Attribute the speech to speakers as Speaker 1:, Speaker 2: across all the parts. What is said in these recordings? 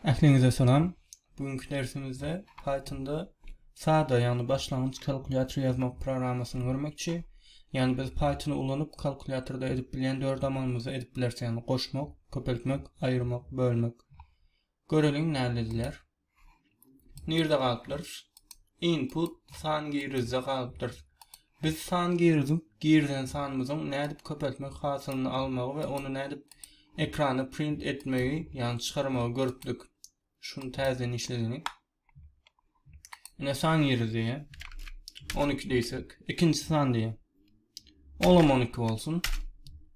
Speaker 1: Ähliňize salam. Bu günki dersimizde Pythonda sada, ýagny başlangyç kalkulýator ýazmak programmasyny görmekçi. Ýagny biz Pythony ulanyp kalkulýatorda edip bilýän dört amalymyzy edip bileris, ýagny goşmak, köpeltmek, aýyrmak, bölmek. Göreliň näme edilýär. Nirde galypdyrys? Input san girizde galypdyr. Biz san girizip, girizen sanymyzyň nädip köpeltmek hasylyny almagy we ony nädip ekrana print etmegi, ýagny çykarmagy görüpdik. Şuny täzeden işledigiň. Ine san giriz diýýär. 12 diýsek, ikinji san diýýär. Olam 12 bolsun.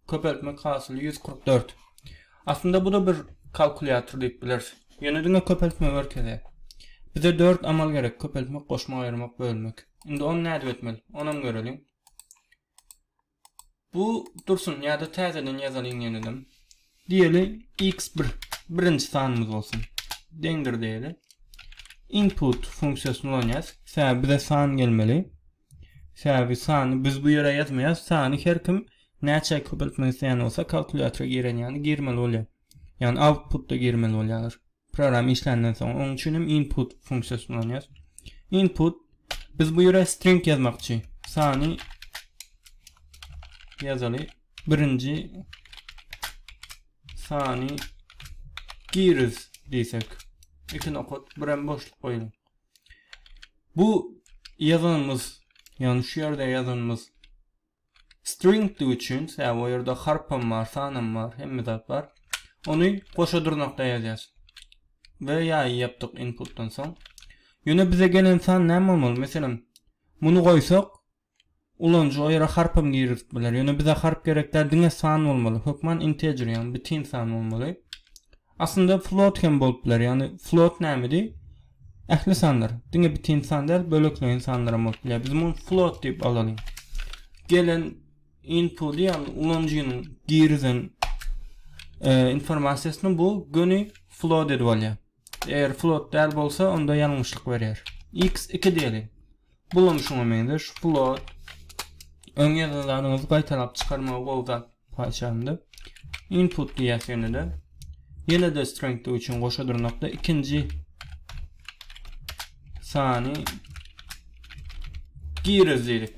Speaker 1: Köpeltmek hasyly 144. Aslynda bu da bir kalkulýator diýip bileris. Ýöne diňe köpeltme görkezýär. Bize 4 amal gerek, köpeltmek, goşmak, aýyrmak, bölmek. Indi ony nädip etmeli? Onam göreliň. Bu dursun ýa-da täzeden ýazalyň ýeneden. Diýeli x1 birinji sanymyz bolsun. Deňdir diýeli. Input funksiýasyny ulanýas. Sebäbi bize san gelmeli. Sebäbi sany biz bu ýere ýazmaýas, sany her kim näçe köpeltmek isleýän bolsa kalkulýatora giren ýaly girmeli bolýar. Ýagny output-da girmeli bolýarlar. Program işländen soň onuň üçin hem input funksiýasyny ulanýarys. Input biz bu ýere string ýazmakçy. Sany ýazaly. Birinji sany giriz diýsek. Iki nokat, bir hem boşluk goýuň. Bu ýazanymyz, ýagny şu ýerde ýazanymyz stringdigi üçin, sebäbi o ýerde harpam bar, sanam bar, hemme zat bar. Ony goşa durnakda ýazýas. We ýaýy ýapdyk inputdan soň. Ýöne bize gelen san näme bolmaly? Meselem, muny goýsak, Ulanyjy o ýere harpam girizip biler. Ýöne bize harp gerek däl, diňe san bolmaly. Hökman integer, ýagny bitin san bolmaly. Aslynda float hem bolup biler. Ýagny float nämedi? Ähli sanlar. Diňe bitin san däl, bölekleýin sanlar hem bolup biler. Biz muny float diýip alalyň. Gelen input ýagny ulanyjynyň girizen e, informasiýasyny bu göni float edip alýar. Eger float däl bolsa, onda ýalňyşlyk berýär. X 2 diýeliň. Bulam şuňa meňzeş. Float öň ýazan zadyňyzy gaýtalap çykarmaga gowy zat haçanda. Input diýýäs ýene-de. Ýene-de strength üçin goşa dyrnakda ikinji sany giriz diýdik.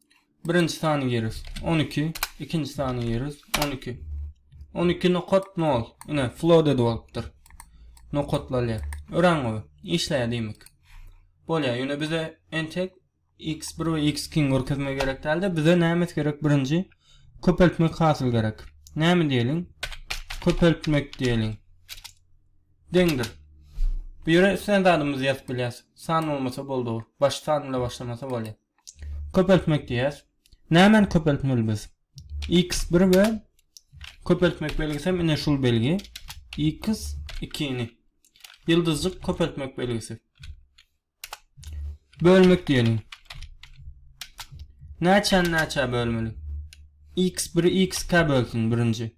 Speaker 1: Birinji sany ýerüs, on iki, ikinji sany ýerüs, on iki. On iki nokat nol, ine, flooded bolupdyr. Nokatlalýar. Örän gowy. Işläýär diýmek. Bolýar, ýöne bize entek x1 we x2 görkezme gerek däldi. Bize nämes gerek birinji? Köpeltmek hasyl gerek. Näme diýeliň? Köpeltmek diýeliň. Deňdir. Bu ýere islen zadymyzy ýazyp bilýäs. San bolmasa boldy. Baş san bilen başlamasa bolýar. Köpeltmek diýýäs. Nämäni köpeltmeli biz? X1 we köpeltmek belgisi hem ine şul belgi. X2-ni. Ýyldyzjyk köpeltmek belgisi. Bölmek diýelim. Näçäni näçä bölmeli? X1 x-kä bölsün birinji.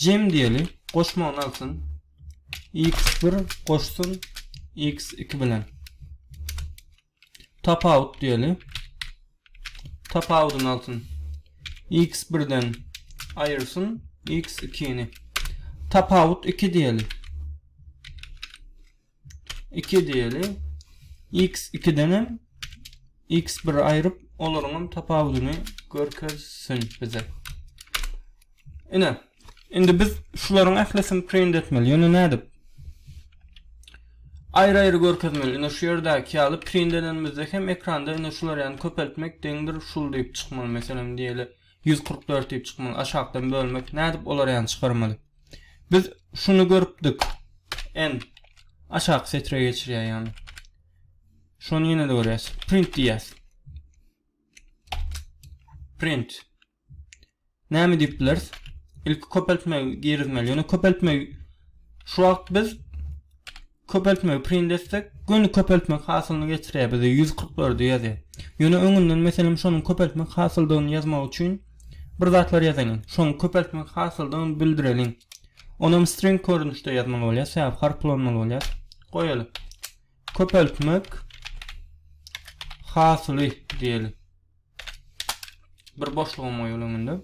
Speaker 1: Jem diýeli, goşmagyny alsyn. X bir goşsun X iki bilen. Tapawut diýeli. Tapawudyny alsyn. X birden aýyrsyn X ikini. Tapawut iki diýeli. 2 diýeli. X 2-den hem X 1 aýryp, olaryň hem tapawudyny görkezsin bize. Ine, indi biz şularyň ählisini print etmeli. Ýöne nädip? Aýry-aýry görkezmeli. Ine şu ýerdäki ýaly print edenimizde hem ekranda ine şular ýaly köpeltmek deňdir şul diýip çykmaly. Meselem diýeli. Ýüz kyrk dört diýip çykmaly, aşakdan bölmek, nädip olar ýany çykarmaly? Biz şuny görüpdik, en aşaky setre geçirýär ýany. Şony ýene-de görýäs. Print diýýäs. Print. Näme diýip bileris? Ilki köpeltme girizmeli. Ýöne köpeltme şu wagt biz Köpeltmegi print etsek, göni köpeltmek hasylyny getirýär, bize ýüz kyrk dördi ýazýar. Ýöne öňünden meselem şonuň köpeltmek hasyldygyny ýazmak üçin bir zatlar ýazalyň. Şoň köpeltmek hasyldygyny bildireliň. Onam string görnüşde ýazmaly bolýar, sebäbi harp ulanmaly bolýar. Goýaly. Köpeltmek hasyly diýeli. Bir boşlugam goýalyň indi.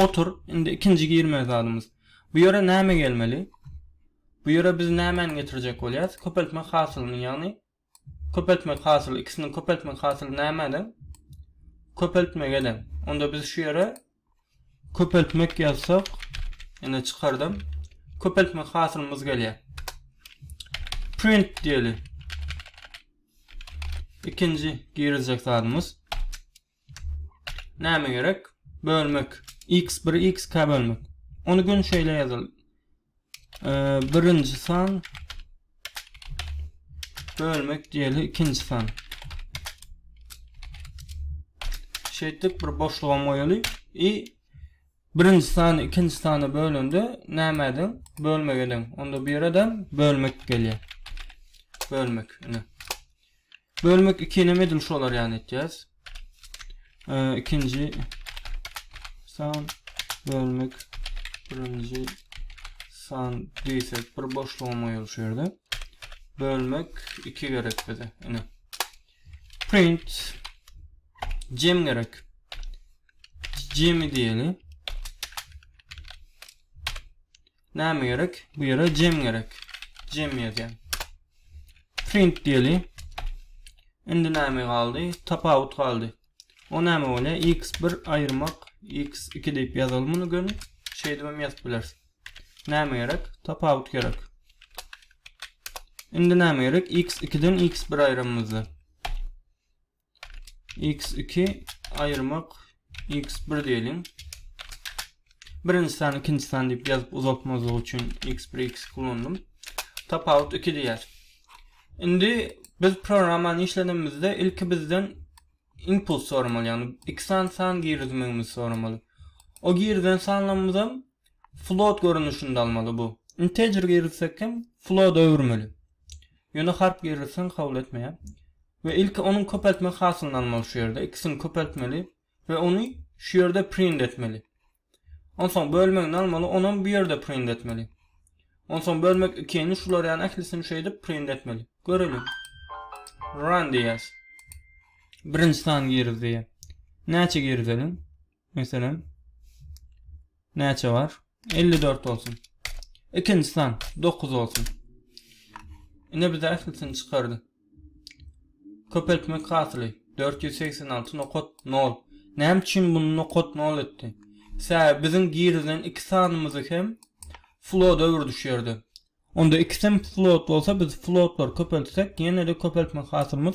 Speaker 1: Otur. Indi ikinji girme zadymyz. Bu ýere näme gelmeli? Bu ýere biz nämäni getirjek bolýarys? Köpeltmek hasylyny, ýagny köpeltmek hasyly, ikisiniň köpeltmek hasyly nämä deň? Köpeltmege deň. Onda biz şu ýere köpeltmek ýazsak, ýene çykardym. Köpeltmek hasylymyz gelýär. Print diýeli. Ikinji giriljek zadymyz. Näme gerek? Bölmek. X1 X2 bölmek. Ony gün şeýle ýazaly. Birinji san bölmek diýeli ikinji san. Şeýtdik bir boşlugam goýaly. I birinji sany ikinji sana bölende näme ediň? Bölmek ediň. Onda bir adam bölmek gelýär. Bölmek. Ine. Bölmek ikinem edil şolar ýaly etýäs. Ikinji san bölmek birinji san diýsek bir boşlugyň goýulyş şu ýerde. Bölmek 2 gerek bize. Ine. Print cem gerek. Cemi diýeli. Näme gerek? Bu ýere jem gerek. Jem ýazýan. Print diýeli. Indi näme galdy? Tapawut galdy. O näme bolýa? X1 aýyrmak, X2 diýip ýazaly muny göni. Şeýdip hem ýazyp bileris. Näme gerek? Tapawut gerek. Indi näme gerek? X2-den X1 aýramyzda. x2 aýyrmak x1 diýeliň. Birinji sany ikinji sany diýip ýazyp uzatmazlyk üçin x1 x kullandym. Tapawut 2 diýýär. Indi biz programmany işledimizde ilki bizden input soramaly, ýagny iki sany san girizmegimizi soramaly. O girizen sanlarymyz hem float görnüşinde almaly bu. Integer girizsek hem float öwürmeli. Ýöne harp girizseň kabul etmeýär. We ilki onuň köpeltme hasylyny almaly şu ýerde ikisini köpeltmeli we ony şu ýerde print etmeli. Onsoň bölmegini almaly onam bu ýerde print etmeli. Onsoň bölmek ikini şular ýaly ählisini şeýdip print etmeli. Göreliň. Run diýýäs. Birinji sany girizdi. Näçe girizeliň? Meselem, näçe bar? 54 bolsun. Ikinji san 9 bolsun. Ine biz ählisini çykardy. Köpeltmek hasyly 486 nokat 0. Näme üçin bunu nokat 0 etdi? Sebäbi biziň girizen iki sanymyzy hem floda öwürdi şu ýerde. Onda ikisem float bolsa biz floatlar köpeltsek ýene-de köpeltmek hasylymyz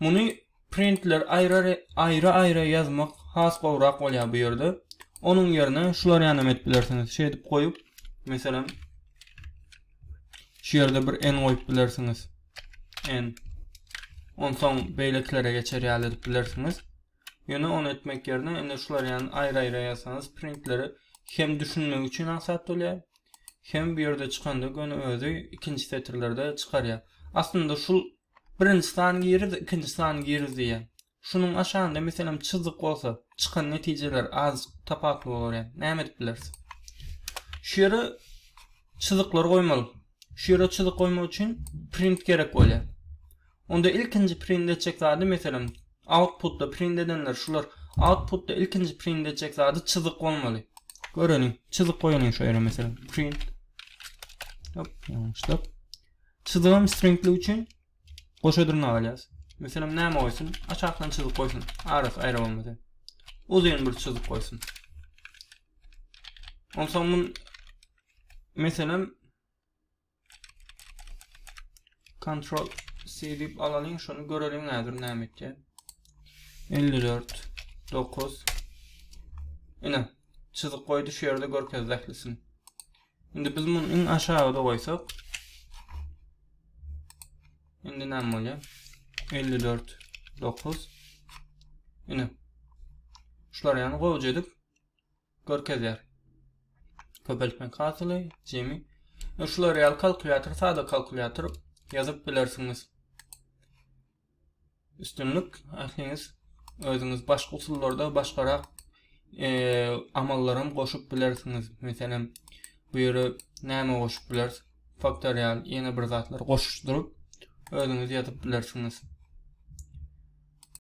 Speaker 1: Muny printler aýrary aýra-aýra ýazmak has gowrak bolýar bu ýerde. Onuň ýerine şular ýanam edip bilersiňiz. Şeýdip goýup, meselem, şu ýerde bir en goýup bilersiňiz. En. Onsoň beýlekilere geçer ýaly edip bilersiňiz. Ýöne ony etmek ýerine indi şular ýany aýra-aýra ýazsaňyz printleri hem düşünmek üçin aňsat bolýar. Hem bu ýerde çykanda göni özi ikinji setirlerde çykarýar. Aslynda şu Birinji sany giriz, ikinji sany giriz diýýär. Şunuň aşagynda meselem çyzyk bolsa, çykan netijeler azjyk tapawutly bolar ýa. Näme edip bileris? Şu ýere çyzyklar goýmaly. Şu ýere çyzyk goýmak üçin print gerek bolýar. Onda ilkinji print etjek zady meselem outputda print edenler şular outputda ilkinji print etjek zady çyzyk bolmaly. Göreliň, çyzyk goýalyň şu ýere meselem print. Hop, ýalňyşdyk. Çyzygam stringlik üçin goşa dyrnak alýas. Meselem näme goýsun? Aşakdan çyzyk goýsun. Arasy aýra bolmasyn. Uzyn bir çyzyk goýsun. Onsoň mun meselem Ctrl C dip alalyň, şony göreliň häzir näme etýär. 54 9 Ine, çyzyk goýdy şu ýerde görkezdi ählisini. Indi biz muny iň aşagyda goýsak. Indi näme bolýar? 54 9 Ine. Şular ýany gowja edip görkezýär. Köpeltmek hasyly, jemi. Şular ýaly kalkulýator, sada kalkulýator ýazyp bilersiňiz. Üstünlik ähliňiz özüňiz başga usullarda başgarak amallaram goşup bilersiňiz. Meselem, bu ýere näme goşup bileris? Faktorial ýene bir zatlar goşuşdyryp özüňiz ýazyp bilersiňiz.